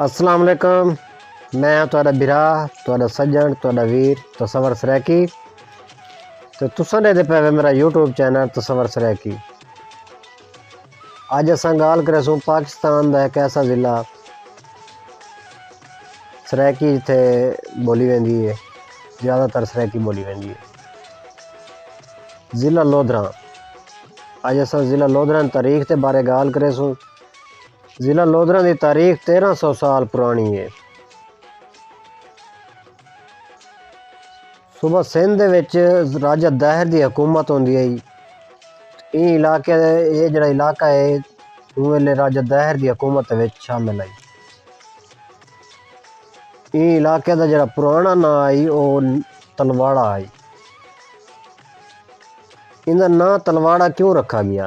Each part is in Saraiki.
السلام علیکم میں تہاڈا بھرا تہاڈا سجن تہاڈا ویر تصور سرائیکی تے تساں دے پے میرا یوٹیوب چینل تصور سرائیکی اج اساں گالھ کریسوں پاکستان دا ایک ایسا ضلع سرائیکی جتھے بولی ویندی ہے زیادہ تر سرائیکی بولی ویندی ہے ضلع لودھراں اج اساں ضلع لودھراں تاریخ تے بارے گالھ کریسوں ضلع لودھراں دی تاریخ تیرہ سو سال پرانی ہے صوبہ سندھ دے وچ راجہ دہر دی حکومت ہوندی ہئی ایں علاقے دے اے جڑا علاقہ ہے اوں ویلے راجہ دہر دی حکومت دے وچ شامل ہئی ایں علاقے دا جڑا پرانا ناں ہئی او تلواڑا ہئی ایندا ناں تلواڑا کیوں رکھا گیا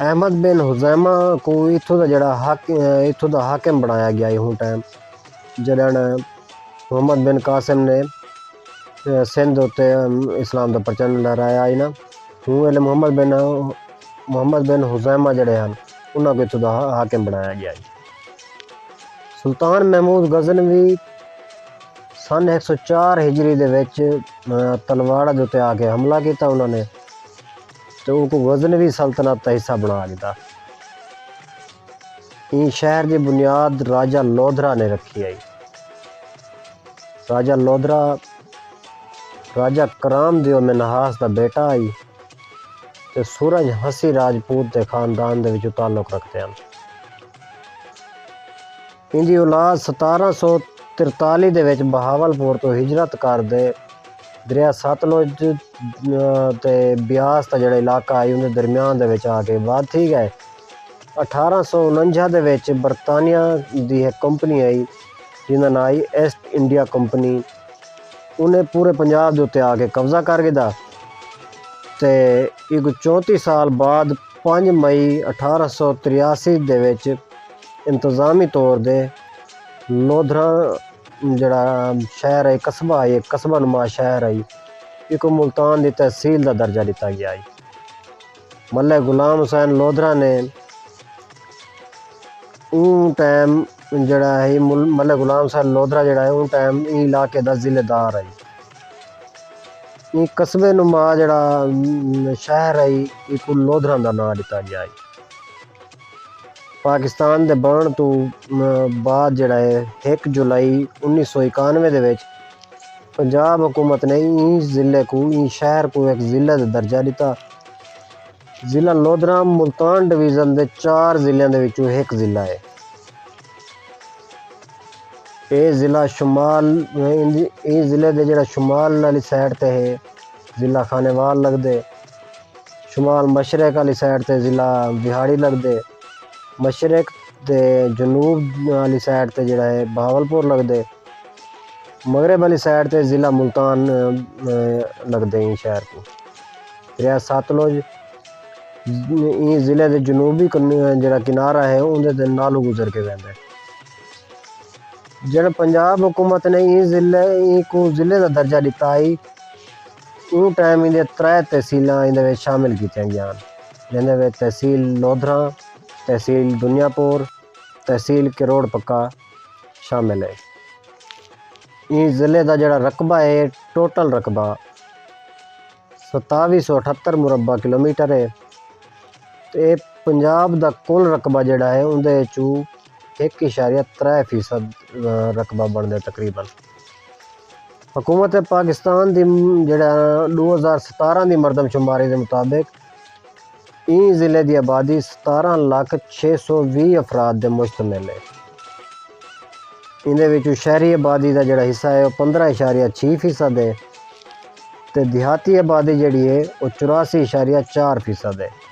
احمد بن حزیمہ کو اتھوں دا جڑا حق اتھوں دا حاکم بنایا گیا ہے ہوں ٹائم جڑا محمد بن قاسم نے سندھ اتے اسلام دا پرچن لہرایا ہے نا ہوں ویلے محمد بن محمد بن حزیمہ جڑے ہیں انہاں کو اتھوں دا حاکم بنایا گیا ہے سلطان محمود غزنوی سن 104 ہجری دے وچ تلواڑہ دے اتے آ کے حملہ کیتا انہاں نے تے اونکوں غزنوی سلطنت دا حصہ بنڑا گھدا۔ ایں شہر دی بنیاد راجہ لودھرا نے رکھی ہئی۔ راجہ لودھرا راجہ کرام دیو منہاس دا بیٹا ہئی تے سورج ہنسی راجپوت دے خاندان دے وچوں تعلق رکھدے ہن۔ ایندی اولاد ستارہ سو ترتالی دے وچ بہاول پور توں ہجرت کر تے دریا ستلج تے بیاس دا جیڑھا علاقہ ہئی اوندے درمیان دے وچ آ کے آباد تھی ڳئے۔ اٹھارہ سو اننجھا دے وچ برطانیہ دی ہک کمپنی آئی جیندا ناں ہئی ایسٹ انڈیا کمپنی انہیں پورے پنجاب دے اتے آ کے قبضہ کر گھدا تے ایکوں چونتی سال بعد پنج مئی اٹھارہ سو تریاسی دے وچ انتظامی طور دے لودھراں جیڑھا شہر ہئی قصبہ ہئی ہک قصبہ نما شہر ہئی ایکوں ملتان دی تحصیل دا درجہ ݙتا ڳیا ہئی ملک غلام حسین لودھراں نے اوں ٹائم جیڑھا ہئی ملک غلام حسین لودھراں جیڑھا ہئی اوں ٹائم ایں علاقے دا ضلع دار ہئی ایں قصبے نما جیڑھا شہر ہئی ایکوں لودھراں دا ناں ݙتا ڳیا ہئی۔ پاکستان دے بݨݨ توں بعد جیڑھا ہے ہک جولائی انیس سو اکانوے دے وچ پنجاب حکومت نے ایں ضلع کوں ایں شہر کوں ہک ضلع دا درجہ ݙتا۔ ضلع لودھرام ملتان ڈویژن دے چار ضلعیاں دے وچوں ہک ضلع ہے۔ ایں ضلع دے جیڑھا شمال والی سائیڈ تے ہے۔ ضلع خانیوال لڳدے۔ شمال مشرق آلی سائیڈ تے ضلع بہاڑی لڳدے۔ مشرق تے جنوب آلی سائیڈ تے جیڑا ہے بہاول پور لڳدے۔ مغرب آلی سائیڈ تے ضلع ملتان لڳدے ایں شہر کوں۔ دریا ستلج ایں ضلع دے جنوبی جیڑا کنارہ ہے اوندے تے نالوں گزر کے ویندے۔ جݙاں پنجاب حکومت نے ایں ضلع ایں کوں ضلع دا درجہ ݙتا ہئی اوں ٹائم ایندے ترے تحصیلاں ایندے وچ شامل کیتیاں ڳیاں جیندے وچ تحصیل لودھراں، تحصیل دنیا پور، تحصیل کروڑ پکا شامل ہے۔ ایں ضلع دا جیڑھا رقبہ ہے ٹوٹل رقبہ ستاوی سو اٹھتر مربع کلومیٹر ہے تے پنجاب دا کل رقبہ جیڑھا ہے اوندے وچوں ہک اشاریہ ترے فیصد رقبہ بݨدے تقریبا حکومت پاکستان دی جڑا ݙو ہزار ستارہ دی مردم شماری دے مطابق ایں ضلع دی آبادی ستارہ لکھ چھ سو وی افراد دے مشتمل ہے ایندے وچوں شہری آبادی دا جڑا حصہ ہے او پندرہ اشاریہ چھی فیصد ہے تے دیہاتی آبادی جڑی ہے او چوراسی اشاریہ چار فیصد ہے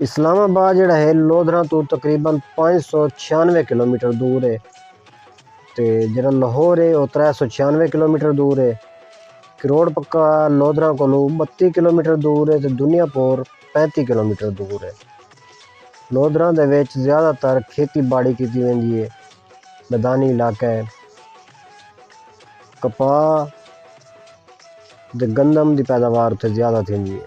اسلام آباد جیڑھا ہے لودھراں توں تقریبا پنج سو چھیانوے کلومیٹر دور ہے تے جیڑھا لاہور ہے او ترے سو چھیانوے کلومیٹر دور ہے کروڑ پکا لودھراں کولوں بتی کلومیٹر دور ہے تے دنیا پور پینتی کلومیٹر دور ہے لودھراں دے وچ زیادہ تر کھیتی باڑی کیتی ویندی ہے میدانی علاقہ ہے کپاہ تے گندم دی پیداوار اتھے زیادہ تھیندی ہے۔